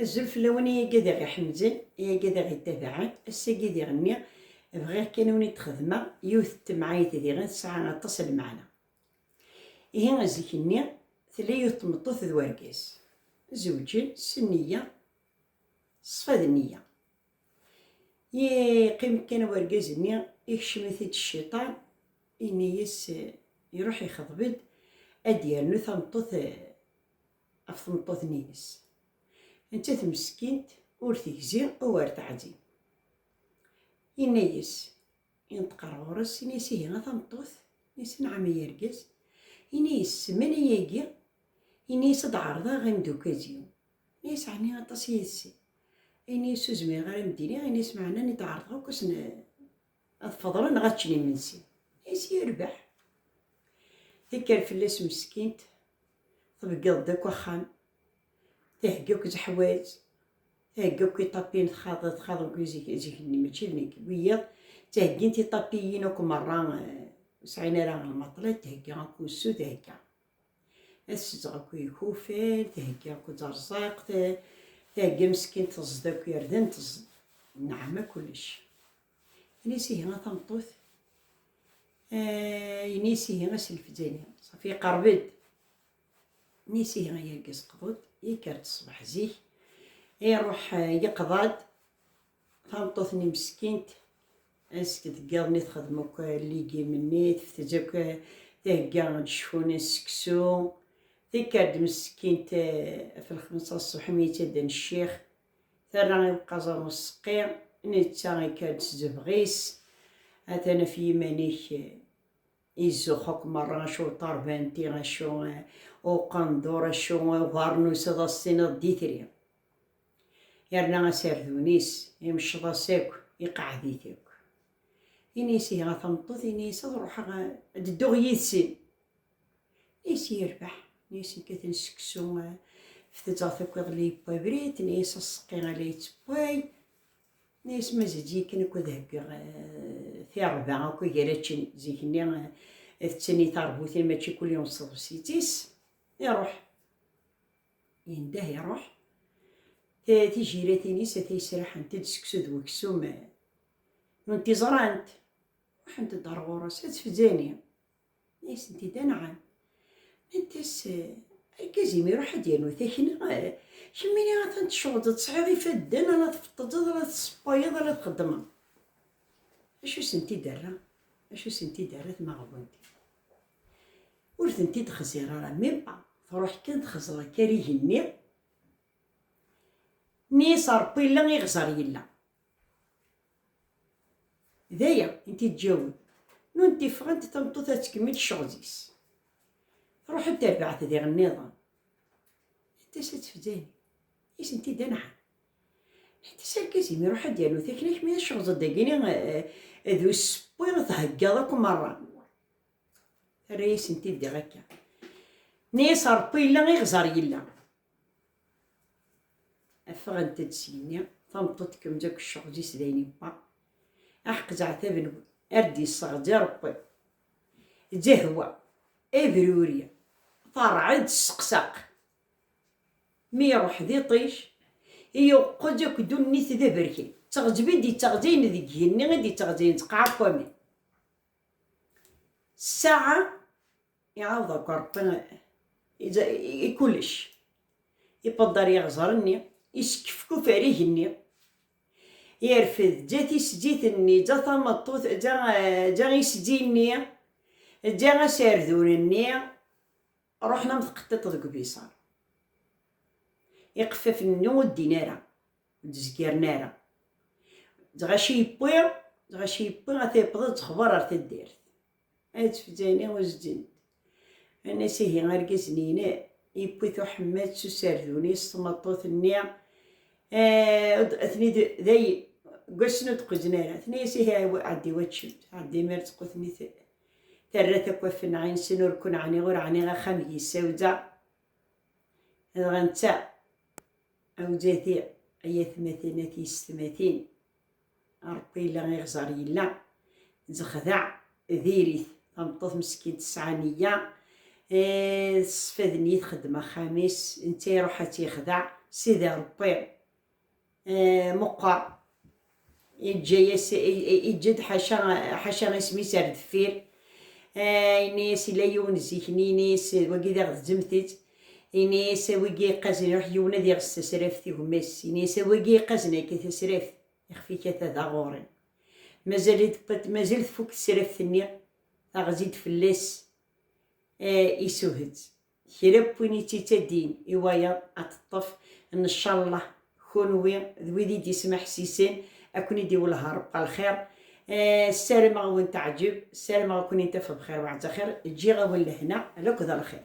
Azul fell-awen ay agadiɣ iḥemzen, ay agadiɣ ittabaɛen, ass-agi diɣ nniɣ bɣiɣ kan uni d-xedmeɣ yiwet n temɛayt diɣen tesɛa aṭas n lmeɛna. Ihi zik-nni tella yiwet n tmeṭṭut d wergaz, zewǧen s nniya, ṣṣfa d nniya. Yeqqim kan wergaz-nni, ikcem-it-id cciṭan, ini-yas iruḥ ixḍeb-d ad d-yernu tameṭṭut ɣef tmeṭṭut-nni-ines. Nettat meskint ur tegzi u ur teɛzim. Yenna-yas, yenṭeq ar ɣur-s, yenna-yas, ihi a tameṭṭut, yenna-yas, anɛam ay argaz, yenna-yas, ssmen ayagi, yenna-yas ad d-ɛerḍeɣ imeddukal-iw. Yenna-yas, ɛni aṭas yid-sen? Yenna-yas, ur zmireɣ ara ad am-d-iniɣ, yenna-yas, meɛna nni d-ɛerḍeɣ akk ass n, ad feḍren neɣ ad ččen imensi is yerbeḥ tekker fell-as meskint tbeggeḍ-d akk axxam thegga akk zeḥwaj thegga akk iṭapin txaḍ txaḍ akk zik-nni mačči d nekk wiyaḍ ttheggint iṭapiyin akk merra eh, ur sɛin ara lmaṭla thegga akk usu thegga ad ssezɣ akk ikufan, theggi akk ẓerẓaqt, theggi meskin teẓd akk irden, teẓd nneɛma kullec. Ini-as ihi a tameṭṭut, ini-as ihi a selfeǧ-ini, safi iqerreb-d. Ini-as ihi ay argaz qḍu-d, yekker-d ṣṣbeḥ zik, iruḥ yeqḍa-d, Tameṭṭut-nni meskint, azek deg iḍ-nni texdem akk ligim-nni, tefteǧ akk thegga ad cfun seksu, tikkar-d meskint ɣef lxemsa n ṣṣbeḥ mi yettaden ccix, terra i uqaẓer n useqqi, netta ikka-d s zebɣ-is, atan af yiman-ik, izux akk merra, acu ṭarbanti, acu uqendur, acu ubarnus, ad as-tiniḍ d itri. Yerna aserdun-is imecceḍ-as akk, iqeɛɛed-it akk. Ini-as ihi a tameṭṭut, ini-as ad ruḥeɣ ad dduɣ yid-sen. Ini-as yerbeḥ, ini-as yekkaten seksu, fteǧaɣ takk iḍelli yewwa abrid, ini-as aseqqi a la yettewway, ini-as mazal ziken akk ad heggeɣ eh, tirba akk gar ačen, zikenni eh, d tani tarbut-im mačči kulli s tḍebsit-is, iruḥ. Yendeh iruḥ. Tijiratin-is ata yesraḥent-d seksu d weksum. Nunt i ẓrant, ruḥent-d ar ɣur-s, ad tfzani. Ma yesent-id anɛam. Nant-as, Argaz-im iruḥ ad d-yernu takna, kemmini atan tecɣel-d, tesɛiḍ ifadden ala tfeṭṭeǧeḍ, ala tessewwayeḍ, ala txeddmeḍ. Acu sent-id-terra? Acu sent-id-terra tmaɣbunt-iw? Ur tent-id-xziɣ ara, mebba truḥ kan texzeḍ akarig-nni n yiserpillen iɣzer yella. D aya i n-t-id-ǧǧawin. Nunt ffɣent, tameṭṭut ad tkemmel ccɣel-is. Truḥ ad d-terbeɛ-t diɣ nniḍen. Anta-s ad tefdani? I sent-id-anɛam. Ḥti s argaz-im iruḥ ad d-yernu takla-k mi tecɣzeḍ dagini d usewwi theggaḍ akk merra. Terra-yasen-t-id diɣ akka. Nni-yas Ṛebbi yella iɣẓer yella. Ffɣent-d seg-nni, tameṭṭut tkemz akk cceɣz-is d ayen yewwa. Aḥeq zeɛtaben ar d-yesseɣzi Ṛebbi. Zehwa, ebruri, teṛɛed, sseqsaq, Mi iruḥ d iṭij, iuqeǧ akk dunnit d aberkan. D teɣzeb i d-ittɣzayen deg igenni i d-ittɣzayen ttqaɛa n waman. Ssaɛa iɛawed akk Ṛebbi i kullec. Ipadder iɣzer-nni, iskefkuf ar igenni, irfed ǧa tisdit-nni, ǧa tameṭṭut, ǧa isdi-nni, ǧa aserdun-nni. Ruḥen am tqeṭṭiṭ deg ubiṣar. Iqeffafen-nni ur ddin ara, ur d-zgiren ara. D ɣaci yewwi, d ɣaci yewwi, ata yewweḍ ad texber ar taddart. Ad tfeǧǧayni uzdent. Annas ihi argaz-nni yewwi-t uḥemmed s usardun-is, tmeṭṭut-nni atni day deg wass-nni ur d-qquzen ara. Tenna-yas ihi ɛeddi waččem, ɛeddi mi ara d-teqqu tenna-it Terra takk afenɛinsen ur ken ɛniɣ ur ɛniɣ axxam gi sawza dɣa netta awzati ay atmatin at yestmatin rebbi yella iɣẓer yella zexdeɛ diri-t tameṭṭut meskint tesɛa neyya tesfadnyi txeddem axxam-is netta iruḥ ad tt-yexdeɛ sidi rebbi eh, meqqer yeǧǧa-yas yeǧǧa-d ḥaca ḥaca isem-is ar deffir eh, yenna-yas ila yiwen zik-nni yenna-yas wagi d aɣ-d-zzemtit yenna-yas wigi iqazen iruḥ yiwen ad iɣes tasraft i gma-s yenna-yas wagi iqazen akka tasraft ixef ikata d aɣuri mazal mazal tfuk tesraft-nni taɣzi-d fell-as eh, isuhet kra n win yettitadin i wayeḍ ad t-ṭṭef, ncallah kunwi d wid i d-yesmeḥsisen ad ken-id-iwelleh Rebbi lxir, ssarameɣ ad wen-teɛǧeb, ssarameɣ ad ken-intaf bxir baɛd xir, ǧǧiɣ-awen lehna ala akked lxir.